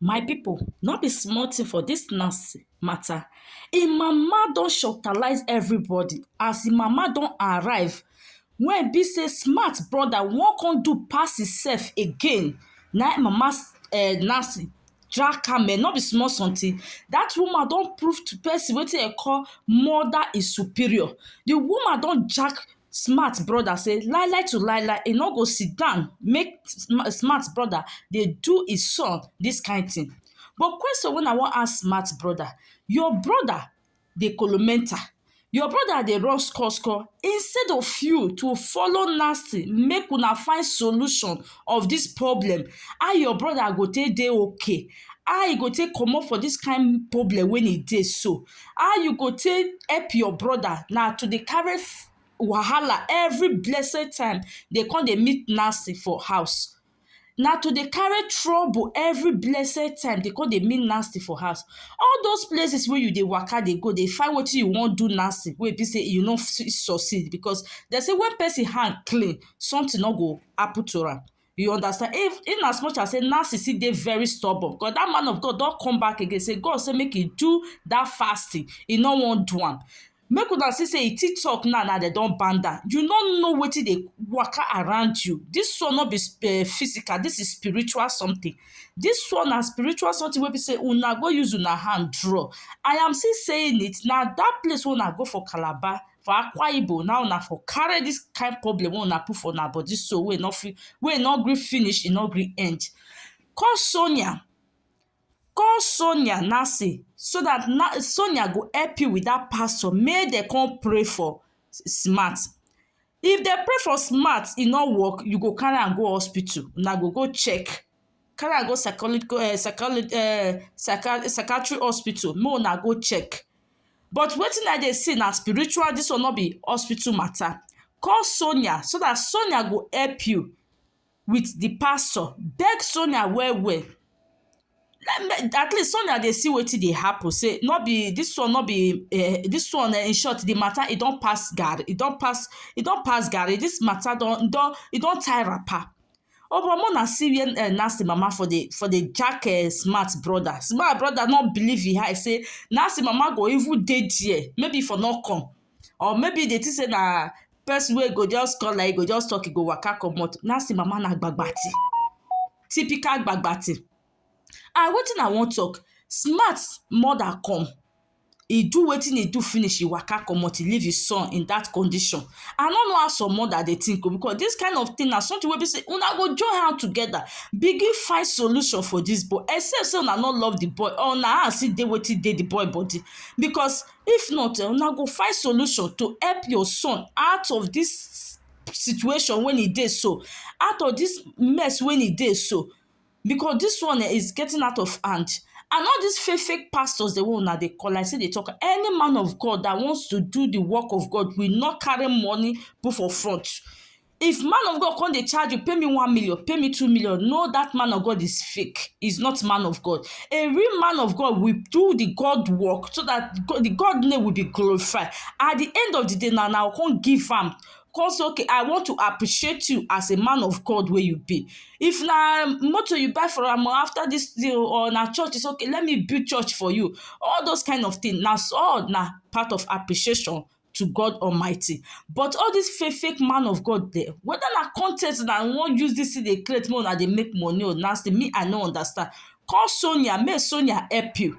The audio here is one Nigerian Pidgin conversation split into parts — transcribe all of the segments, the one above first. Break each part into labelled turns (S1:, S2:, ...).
S1: My people, no be small thing for this Nancy matter. Im mama don shortalize everybody as im mama don arrive wey be say smart brother wan come do pass himself again na im mama um Nancy drag am um no be small something. That woman don prove to person wetin dem call mother is superior. The woman don jack smart brother say lai lai to lai lai e no go sit down make smart brother dey do his son this kind thing but question wey I wan ask smart brother your brother dey kolo mental your brother dey run score score instead of you to follow Nancy make una find solution of this problem how your brother go take dey okay how e go take comot for this kind problem wey e dey so How you go take help your brother na to dey carry wahala every blessed time dey come dey meet Nancy for house. Na to dey carry trouble every blessed time dey come dey meet Nancy for house. All those places wey you dey waka dey go dey find wetin you wan do Nancy wey e be sey you no fit succeed because dem say when person hand clean, something no go happen to am. You understand? If in as much as say Nancy still dey very stubborn because that man of God don come back again say God say make he do that fasting. He no wan do am. Make una see say e TikTok now now dem don ban am. You no know wetin dey waka around you. This one no be uh, physical, this is spiritual something. This one na spiritual something wey be say una go use una hand draw. I am still saying it na that place wey una go for Calabar for Akwa Ibom now una for carry this kind problem wey una put for una body so wey no fit wey no gree finish e no gree end call Sonia call Sonia now say so that na Sonia go help you with that pastor make dem come pray for smart if dem pray for smart e no work you go carry am go hospital una go go check carry am go psychological um psychology um psychiatry psychiatry hospital make una go check but wetin I dey see na spiritual dis one no be hospital matter call Sonia so dat Sonia go help you with the pastor beg Sonia well well at least Sonia dey see wetin dey happen sey no be dis one no be um dis one in short the matter e don pass garri e don pass e don pass garri dis matter don e don e don tie wrapper Omo more na see where Nancy mama for dey for dey jack smart brother, smart brother no believe im eye sey Nancy mama go even dey there maybe e for no come or maybe e dey think sey na person wey go just come like this e go just talk e go waka comot, Nancy mama na gbagba thing, typical gbagba thing and wetin I wan talk smart mother come e do wetin e do finish, e waka comot, e leave e son in dat condition. I no know how some mother dey think o because dis kind of thing na something wey be sey una go join hand together begin find solution for dis boy except sey una no love de boy or una eye see dey wetin dey de boy body because if not um una go find solution to help your son out of dis situation wey e dey so, out of dis mess wey e dey so. because this one um is getting out of hand and all this fake fake pastors dem wey una dey call like say dey talk any man of God that wants to do the work of God will not carry money put for front if man of God come dey charge you pay me one million pay me two million no that man of God is fake is not man of God a real man of God will do the God work so that God, the God name will be glorified at the end of the day na na come give am come say okay I want to appreciate you as a man of God wey you be if na motor you buy for am after this thing or na church say okay let me build church for you all those kind of thing na all na part of appreciation to God Almighty but all this fake fake man of God there whether na content na wan use this thing dey create make una dey make money or na still me I no understand call Sonia make Sonia help you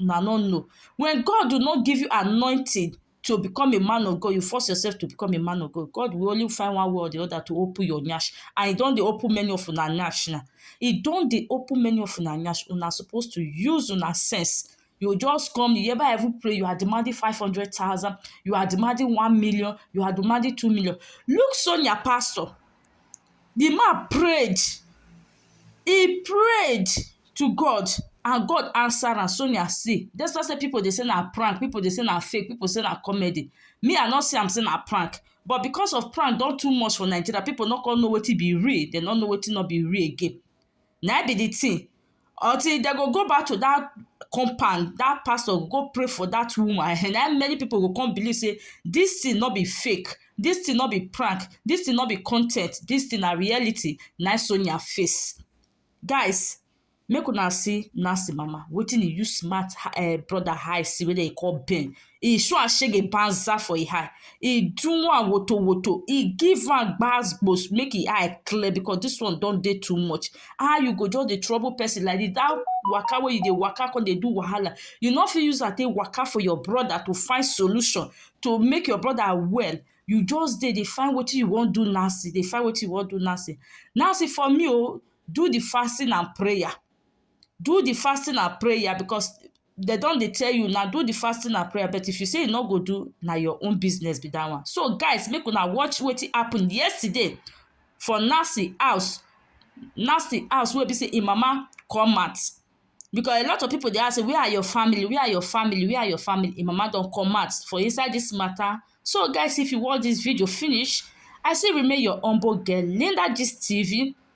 S1: una no know when God do not give you anointing to become a man of God, you force yourself to become a man of God. God will only find one way or the other to open your nyash. And he don't open many of una nyash now. He don't open many of una nyash. Una supposed to use una sense. You just come, you ever ever pray, you are demanding 500,000, you are demanding 1 million, you are demanding 2 million. Look Sonia Pastor. di man prayed e prayed to God and God answer am Sonia see despite sey pipu dey sey na prank pipu dey sey na fake pipu sey na comedy me I no see am sey na prank but because of prank don too much for Nigeria pipu no come know wetin be real dem no know wetin no be real again na im be the thing until dem go go back to that compound that pastor go pray for that woman na im many people go come believe say this thing no be fake this thing no be prank this thing no be con ten t this thing na reality na im Sonia face guys make una see Nancy mama wetin e use smart her brother eye see wey dem dey call Ben e show am shege banza for e eye, e do am woto woto, e give am gbas gbos make e eye clear because dis one don dey too much. How you go just dey trouble person like dis, dat waka wey you dey waka come dey do wahala, you no fit use am take waka for your brother to find solution to make your brother well, you just dey dey find wetin you wan do Nancy, dey find wetin you wan do Nancy. Nancy for me o, do the fasting and prayer, do the fasting and prayer because they don dey tell you na do the fasting and prayer but if you say you no go do na your own business be that one so guys make una watch wetin happen yesterday for Nancy house Nancy house wey be say im mama come out because a lot of people dey ask say where are your family where are your family where are your family im mama don come out for inside this matter so guys if you watch this video finish I still remain your humble girl Linda Gist TV